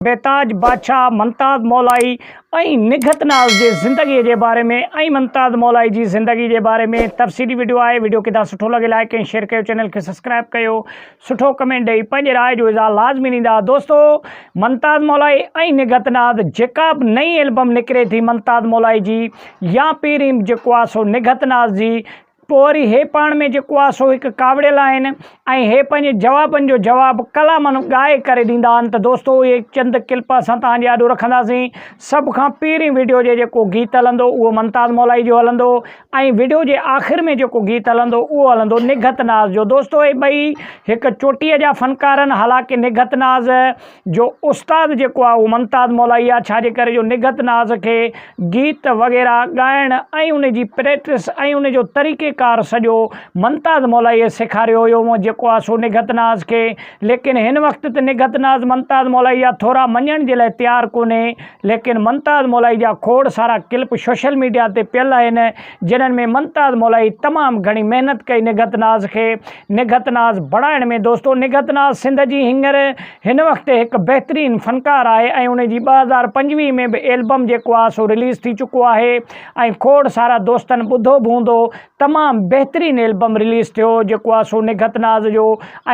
بيتاج بادشاهه منتاد مولائي ۽ نگهت ناز جي زندگي جي باري ۾ ۽ منتاد مولائي جي زندگي جي باري ۾ تفصيلي وڊيو آهي وڊيو ڪدا سٺو لڳي لائڪ ۽ شيئر ڪيو چينل کي سبسڪرائب ڪيو سٺو ڪمينٽ ڏئي پنهنجي راء جو اظهار لازمي ڏيندا دوستو منتاد مولائي ۽ نگهت ناز جيڪا به نئين البم نڪري ٿي منتاد مولائي جي يا پيريم جيڪو آهي سو نگهت ناز جي پوء وري هي پاڻ ۾ جيڪو آهي سو هڪ ڪاوڙيل آهن ۽ هي پنهنجي جوابن جو جواب ڪلامن ڳائي ڪري ڏيندا آهن ته دوستو اهي چند ڪلپ اسان توهان جي آڏو رکنداسين سڀ کان پهرين وڊيو جي جيڪو گيت هلندو اهو ممتاز مولائي جو هلندو ۽ وڊيو جي آخر ۾ جيڪو گيت هلندو اهو هلندو نگهت ناز جو دوستو هي ٻئي هڪ چوٽيء جا فنڪار آهن حالانڪه نگهت ناز جو استاد جيڪو آ اهو منتاز مولائي آ ڇا جي ڪري جو نگهت ناز کي گيت وغيره ڳائڻ ۽ ان جي پريٽس ۽ ان جو طريقي ڪار سڄو منتاز مولائي سيکاريو هيو مون جيڪو آ سو نگهت ناز کي ليڪن هن وقت ته نگهت ناز منتاز مولائي جا ٿورا مڃڻ جي لاء تيار ڪونهي ليڪن ممتاز مولائي جا کوڙ سارا ڪلپ سوشل ميڊيا تي پيل آهن جنھن ۾ ممتاز مولائي تمام گھڻي محنت ڪئي نگھت ناز کي نگھت ناز بڻائڻ ۾ دوستو نگھت ناز سنڌ جي ھينئر ھن وقت هڪ بهترين فنڪار آهي ۽ ان جي ٻه هزار پنجويهه ۾ به ايلبم جيڪو آهي سو رليز ٿي چڪو آهي ۽ کوڙ سارا دوستن ٻڌو به هوندو تمام بهترين البم رليز ٿيو جيڪو آ سو نگهت ناز جو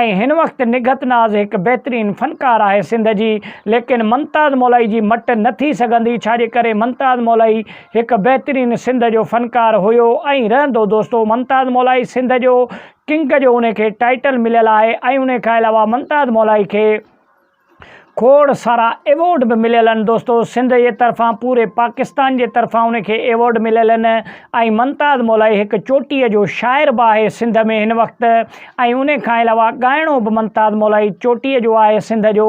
۽ هن وقت نگهت ناز هڪ بهترين فنڪار آهي سنڌ جي ليڪن ممتاز مولائي جي مٽ نه ٿي سگهندي ڇا جي ڪري ممتاز مولائي هڪ بهترين سنڌ جو فنڪار هيو ۽ رهندو دوستو ممتاز مولائي سنڌ جو ڪنگ جو ان کي ٽائيٽل مليل آهي ۽ ان کان علاوه ممتاز مولائي کي کوڙ سارا ايوارڊ به مليل آهن دوستو سنڌ جي طرفان پوري پاڪستان جي طرفان ان کي ايوارڊ مليل آهن ۽ ممتاز مولائي هڪ چوٽيء جو شاعر به آهي سنڌ ۾ هن وقت ۽ ان کان علاوه ڳائڻو به ممتاز مولائي چوٽيء جو آهي سنڌ جو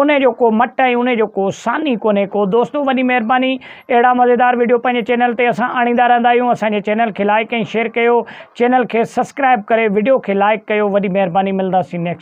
ان جو ڪو مٽ ۽ ان جو ڪو ثاني ڪونهي ڪو دوستو وڏي مهرباني اهڙا مزيدار وڊيو پنهنجي چينل تي اسان آڻيندا رهندا آهيون اسان جي چينل کي لائڪ ۽ شيئر ڪيو چينل کي سسڪرائب ڪري وڊيو کي لائڪ ڪيو وڏي مهرباني ملنداسين نيڪسٽ